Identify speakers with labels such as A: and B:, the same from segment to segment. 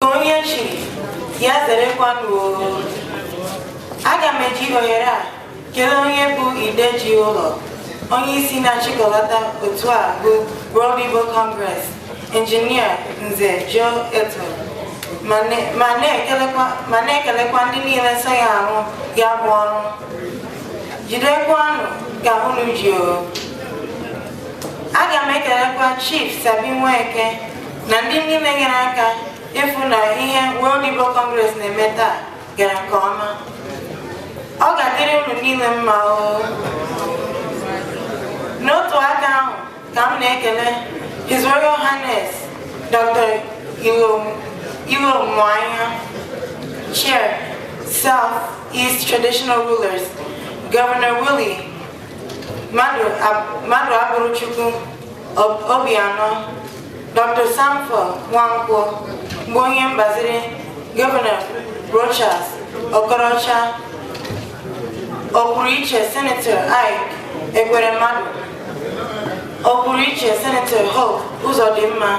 A: onye chiri ya zerekwanụ aga m eji ohere a kelee onye bụ ide ji ụlọ onye isi na-achịkọlata otu a bụ World Igbo Congress injinia Nze Joe Eto ma na-ekelekwa ndị niile so ya arụ ya bụ ọrụ jidekwanụ ka unu ji o aga m ekelekwa Chief Sabi Nweke na ndị niile nyere aka ịfụ na ihe World Igbo Congress na-eme taa gara nke ọma ọ ga-adịrị unu niile mma oo n'otu aka ahụ ka m na-ekele His Royal Highness Dr. Ilomuanya Chair South East Traditional Rulers Governor Willie Maduaburochukwu Obianọ, Dr. Samfo Nwankwo bụ onye mgbaziri gọvanọ Rochas Okorocha ọkwụrụ iche Senator Ike Ekweremadu ọkwụrụ iche Senator Hope Uzodimma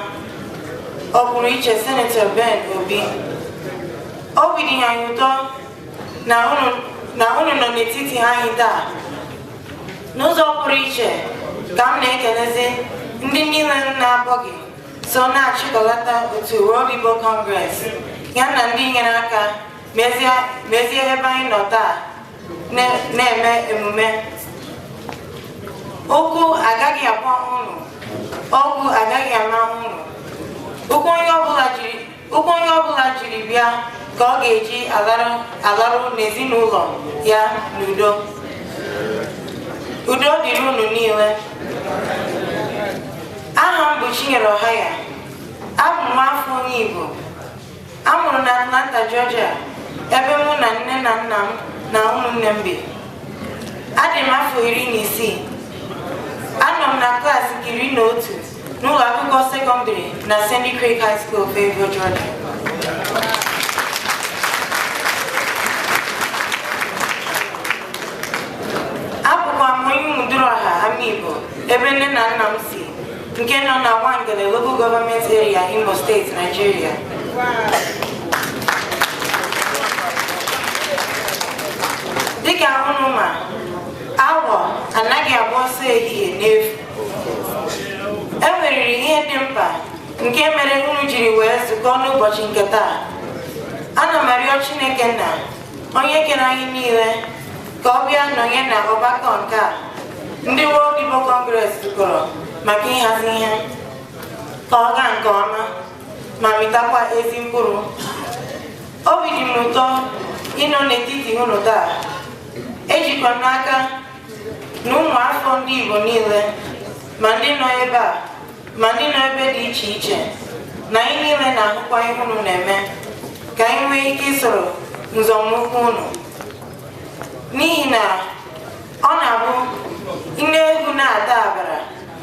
A: ọkwụrụ iche Senator Ben Obi obi dị anyị ụtọ na unu nọ n'etiti anyị taa n'ụzọ pụrụ iche ka m na-ekelezi ndị niile m na-akpọghị so na-achịkọlata otu World Igbo Congress ya na ndị nyere aka mezie ebe anyị nọ taa na-eme emume ụkwụ agaghị akpọ unu ogwu agaghị ama unu ụkwụ onye ọbụla jiri Ụkwụ onye ọbụla jiri bịa ka ọ ga-eji alaru n'ezinụlọ ya n'udo. Udo dịrị unu niile. Aha m bụ Chinyere Ọhaya. Abụ m afọ onye Igbo. A mụrụ na Atlanta, Georgia, ebe mụ na nne na nna m na ụmụnne m bi. Adị m afọ iri na isii. Anọ m na klaasị nke iri na otu. n'ụlọ akwụkwọ sekọndịrị na Sandy Creek High School Fayetteville, Georgia. abụkwa m onye Umuduruọha Amigbo ebe nne na nna m si nke nọ na Nwangele Local Government Area Imo State, Nigeria. dịka unu ma awọ anaghị agba ọsọ ehihie n'efu e nweriri ihe dị mkpa nke mere unu jiri wee zukọ n'ụbọchị nke taa ana m arịọ chineke nna onye kere anyị niile ka ọ bịa nọnye na ọgbakọ nke a ndị World Igbo Congress zukọrọ maka ịhazi ihe ka ọ gaa nke ọma ma mịtakwa ezi mkpụrụ obi dị m ụtọ ịnọ n'etiti unu taa ejikwa m n'aka na ụmụafọ ndị Igbo niile ma ndị nọ ebe a ma ndị nọ ebe dị iche iche na anyị niile na-ahụkwa ihe unu na-eme ka anyị nwee ike isoro nzọmụkwụ unu n'ihi na ọ na-abụ nne ewu na-ata agbara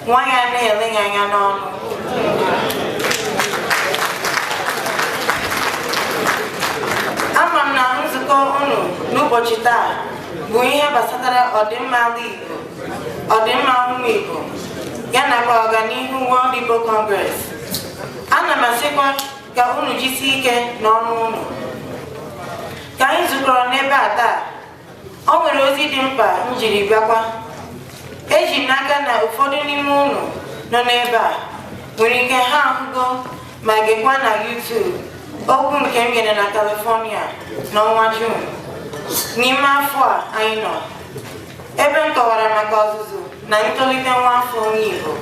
A: nwa ya na-ele ya anya n'ọnụ ama m na nzukọ unu n'ụbọchị taa bụ ihe gbasatara ọdịmma ala Igbo ọdịmma ụmụ Igbo ya nakwa ọganihu World Igbo Congress ana m asịkwa ka unu jisie ike n'ọrụ unu ka anyị zukọrọ n'ebe a taa o nwere ozi dị mkpa m jiri bịakwa eji m n'aka na ụfọdụ n'ime unu nọ n'ebe a nwere ike ha ahụgo ma gekwa na YouTube okwu nke m nyere na California n'ọnwa June n'ime afọ a anyị nọ ebe m kọwara maka ọzụzụ na ntolite nwa afọ onye Igbo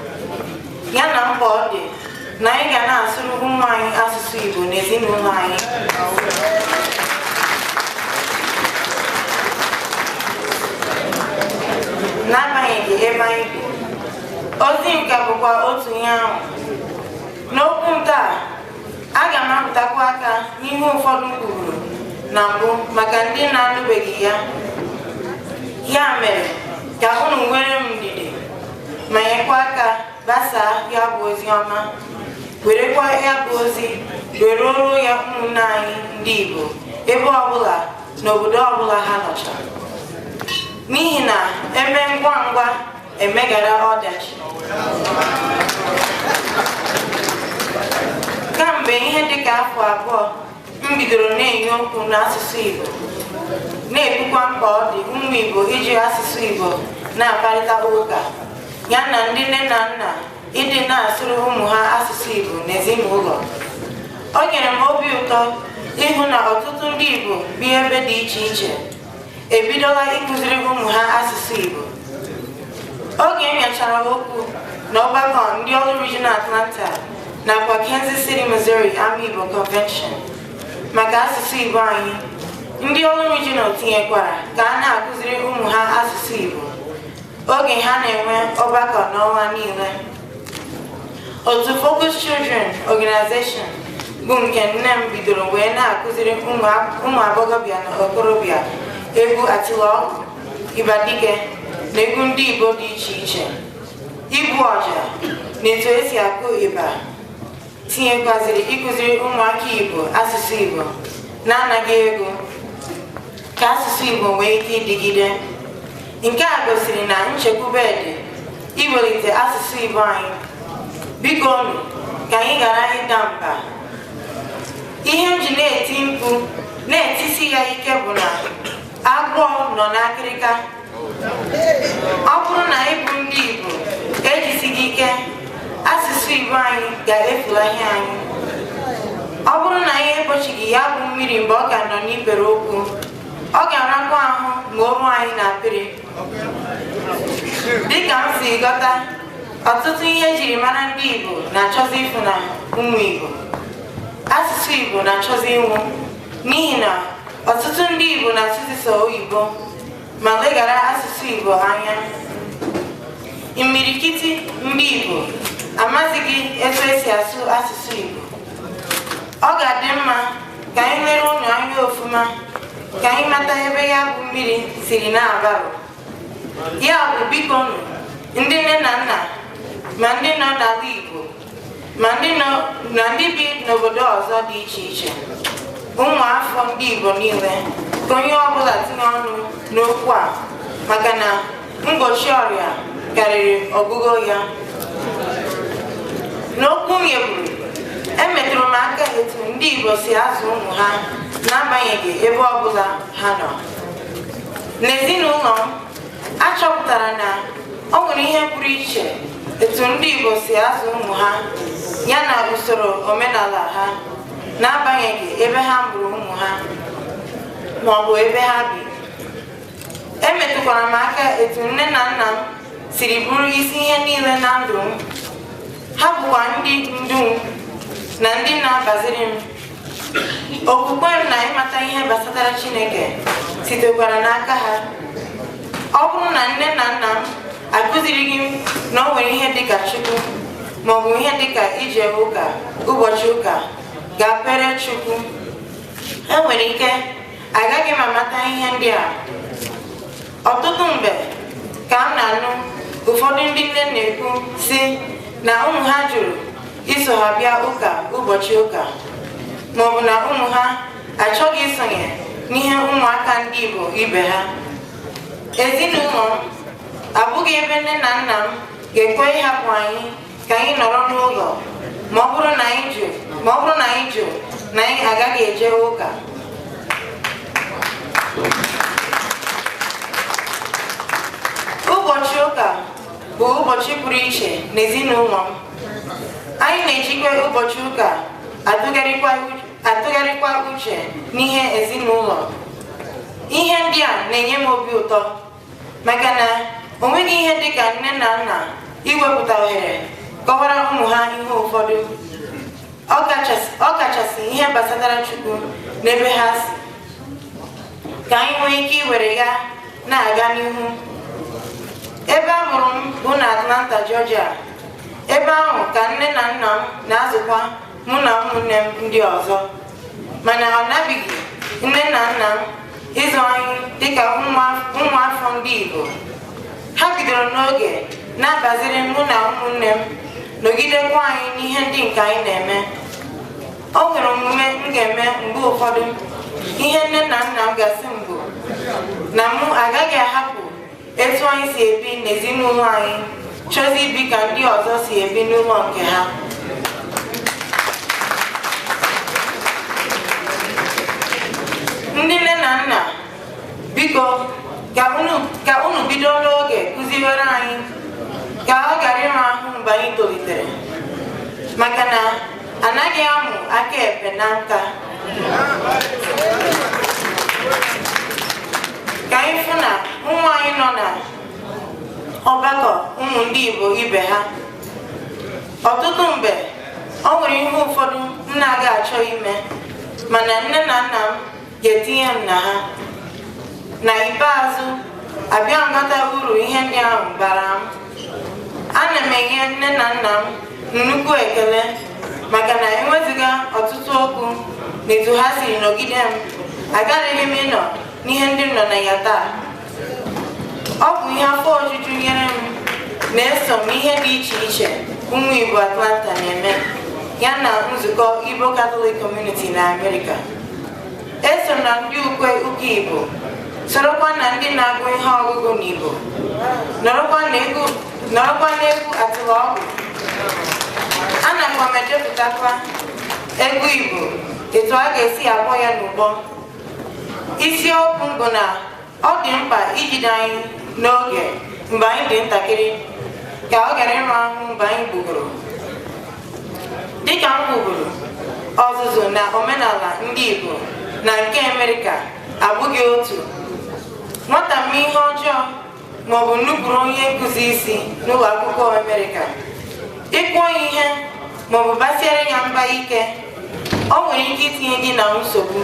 A: ya na mkpa ọ dị na anyị ga na-asụrụ ụmụ anyị asụsụ Igbo n'ezinụlọ anyị n'agbanyeghị ebe anyị bi ozi nke a bụkwa otu ihe ahụ n'okwu m taa aga m arụtụkwa aka n'ihe ụfọdụ m kwuru na mbụ maka ndị na-anụbeghị ya ya mere ka unu nwere m ndidi ma nyekwa aka gbasaa ya bụ ozi ọma werekwa ya bụ ozi were ruo ya ụmụnne anyị ndị Igbo ebe ọbụla n'obodo ọbụla ha nọcha n'ihi na eme ngwa ngwa emeghara ọdachi kamgbe ihe dịka afọ abụọ m bidoro na-enye okwu n'asụsụ Igbo na-ekwukwa mkpa ọ dị ụmụ Igbo iji asụsụ Igbo na-akparịta ụka ya na ndị nne na nna ịdị na-asụrụ ụmụ ha asụsụ Igbo n'ezinụlọ o nyere m obi ụtọ ịhụ na ọtụtụ ndị Igbo bi ebe dị iche iche ebidola ịkụziri ụmụ ha asụsụ Igbo oge m nyechara okwu na ọgbakọ ndị Orlu Regional Atlanta nakwa Kansas City, Missouri Amaigbo Convention maka asụsụ Igbo anyị ndị Orlu Regional tinyekwara ka a na-akụziri ụmụ ha asụsụ Igbo oge ha na-enwe ọgbakọ n'ọnwa niile otu Focus Children Organization bụ nke nne m bidoro wee na-akụziri ụmụ agbọghọbịa na okorobịa egwu atịlọgwụ ịgba dike na egwu ndị Igbo dị iche iche igbu ọja na etu esi akụ ịgba tinyekwaziri ịkụziri ụmụaka Igbo asụsụ Igbo n'anaghị ego ka asụsụ Igbo nwee ike ịdịgide nke a gosiri na nchekwube dị iwelite asụsụ Igbo anyị biko nụ ka anyị ghara ịda mba ihe m ji na-eti mkpu na-etisi ya ike bụ na agwọ nọ n'akịrịka ọ bụrụ na anyị bụ ndị Igbo ejisighị ike asụsụ Igbo anyị ga-efulahi anyị ọ bụrụ na anyị egbochighị ya bụ mmiri mgbe ọ ka nọ n'ikpere ụkwụ ọ ga-arakwa ahụ ma o ruo anyị n'akpịrị dịka m si ghọta ọtụtụ ihe ejiri mara ndị Igbo na-achọzi ifunahụ ụmụ Igbo asụsụ Igbo na-achọzi ịnwụ n'ihi na ọtụtụ ndị Igbo na-asụzi sọ oyibo ma leghara asụsụ Igbo anya imirikiti ndị Igbo amazighị etu esi asụ asụsụ Igbo ọ ga-adị mma ka anyị lere ụlọ anya ofuma ka anyị mata ebe ya bụ mmiri siri na-agbarụ ya bụ biko nụ ndị nne na nna ma ndị nọ n'ala Igbo ma ndị bi n'obodo ọzọ dị iche iche ụmụafọ ndị Igbo niile ka onye ọbụla tinye ọnụ n'okwu a maka na mgbochi ọrịa karịrị ọgwụgwọ ya n'okwu m nyeburu emetụrụ m aka etu ndị Igbo si azụ ụmụ ha n'agbanyeghị ebe ọbụla ha nọ n'ezinụlọ m a chọpụtara na ọ nwere ihe pụrụ iche etu ndị Igbo si azụ ụmụ ha ya na usoro omenala ha n'agbanyeghị ebe ha mụrụ ụmụ ha ma ọ bụ ebe ha bi emetụkwara m aka etu nne na nna m siri bụrụ isi ihe niile na ndụ m ha bụkwa ndị ndu m na ndị na-agbaziri m okwukwe m na ịmata ihe gbasatara chineke sitekwara n'aka ha ọ bụrụ na nne na nna m akụzirighị m na o nwere ihe dịka chukwu maọbụ ihe dịka ije ụka ụbọchị ụka gaa kpeere chukwu enwere ike agaghị m amata ihe ndị a ọtụtụ mgbe ka m na-anụ ụfọdụ ndị nne na-ekwu sị na ụmụ ha jụrụ iso ha bịa ụka ụbọchị ụka maọbụ na ụmụ ha achọghị isonye n'ihe ụmụaka ndị Igbo ibe ha ezinụlọ m abụghị ebe nne na nna m ga-ekwe ịhapụ anyị ka anyị nọrọ n'ụlọ ma ọ bụrụ na anyị jụ ma ọ bụrụ na anyị jụ na anyị agaghị eje ụka ụbọchị ụka bụ ụbọchị pụrụ iche n'ezinụlọ m anyị na-ejikwa ụbọchị ụka atụgharịkwa u- atụgharịkwa uche n'ihe ezinụlọ ihe ndị a na-enye m obi ụtọ maka na o nweghị ihe dị ka nne na nna iwepụta ohere kọwara ụmụ ha ihe ụfọdụ ọ kachasị- ọ kachasị ihe gbasatara Chukwu n'ebe ha si ka anyị nwee ike iwere ya na-aga n'ihu ebe a mụrụ m bụ na Atlanta, Georgia ebe ahụ ka nne na nna m na-azụkwa mụ na ụmụnne m ndị ọzọ mana ọ nabighị nne na nna m ịzụ anyị dịka ụmụafọ ndị Igbo ha bidoro n'oge na-abaziri mụ na ụmụnne m nọgidekwa anyị n'ihe ndị nke anyị na-eme o nwere omume m ga-eme mgbe ụfọdụ ihe nne na nna m ga-asị m bụ na mụ agaghị ahapụ etu anyị si ebi n'ezinụlọ anyị chọzi ibi ka ndị ọzọ si ebi n'ụlọ nke ha ndị nne na nna biko ka unu ka unu bido n'oge kụziwere anyị ka ọ ghara ịra ahụ mgbe anyị tolitere maka na anaghị amụ aka ekpe na nka ka anyị fụ na ụmụ anyị nọ na ọgbakọ ụmụ ndị Igbo ibe ha ọtụtụ mgbe o nwere ihe ụfọdụ m na-aga achọ ime mana nne na nna m ga-etinye m na ha na ikpeazụ abịa mata uru ihe ndị ahụ bara m ana m enye nne na nna m nnukwu ekele maka na ewezuga ọtụtụ okwu na etu ha siri nọgide m agaraghị m ịnọ n'ihe ndị m nọ na ya taa ọ bụ ihe afọ ojuju nyere m na eso m ihe dị iche iche ụmụ Igbo Atlanta na-eme ya na nzukọ Igbo Catholic Community na Amerịka eso m na ndị ukwe ụka Igbo sorokwa na ndị na-agụ ihe ọgụgụ n'Igbo nọrọkwa n'egwu atịlọgwụ anakwa m echepụtakwa egwu Igbo etu a ga-esi akpọ ya n'ụbọ isiokwu bụ na ọ dị mkpa ijide anyị n'oge mgbe anyị dị ntakịrị ka ọ ghara ịra ahụ mgbe anyị gbugoro dịka m kwuburu ọzụzụ na omenala ndị Igbo na nke Amerịka abụghị otu nwata mee ihe ọjọọ ma ọ bụ nupụrụ onye nkụzi isi n'ụlọ akwụkwọ Amerịka ị kụọ ya ihe ma ọ bụ basiere ya mba ike o nwere ike itinye gị na nsogbu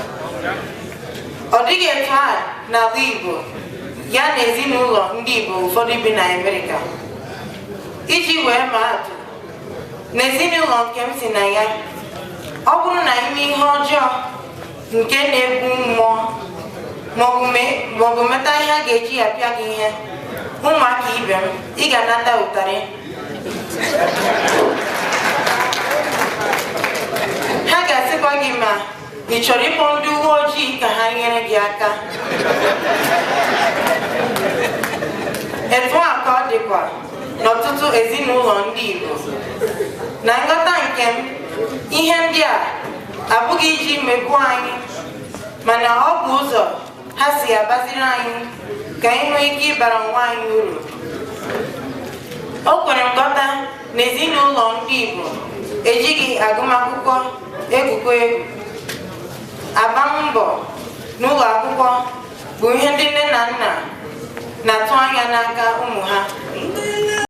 A: ọ dịghị etu a n'ala Igbo ya na ezinụlọ ndị Igbo ụfọdụ bi na Amerịka iji wee maa atụ n'ezinụlọ nke m si na ya ọ bụrụ na i mee ihe ọjọọ nke na-egbu mmụọ maọbụ meta ihe a ga-eji apịa gị ihe ụmụaka ibe m ị ga-anata ụtarị ha ga-asịkwa gị ma ị chọrọ ịkpọ ndị uwe ojii ka ha nyere gị aka etu a ka ọ dịkwa n'ọtụtụ ezinụlọ ndị Igbo na nghọta nke m ihe ndị a abụghị iji megbuo anyị mana ọ bụ ụzọ ha si agbaziri anyị ka anyị nwee ike ịbara onwe anyị uru o kwere nghọta na ezinụlọ ndị Igbo ejighị agụmakwụkwọ egwukwa egwu agbam mbọ n'ụlọ akwụkwọ bụ ihe ndị nne na nna na-atụ anya n'aka ụmụ ha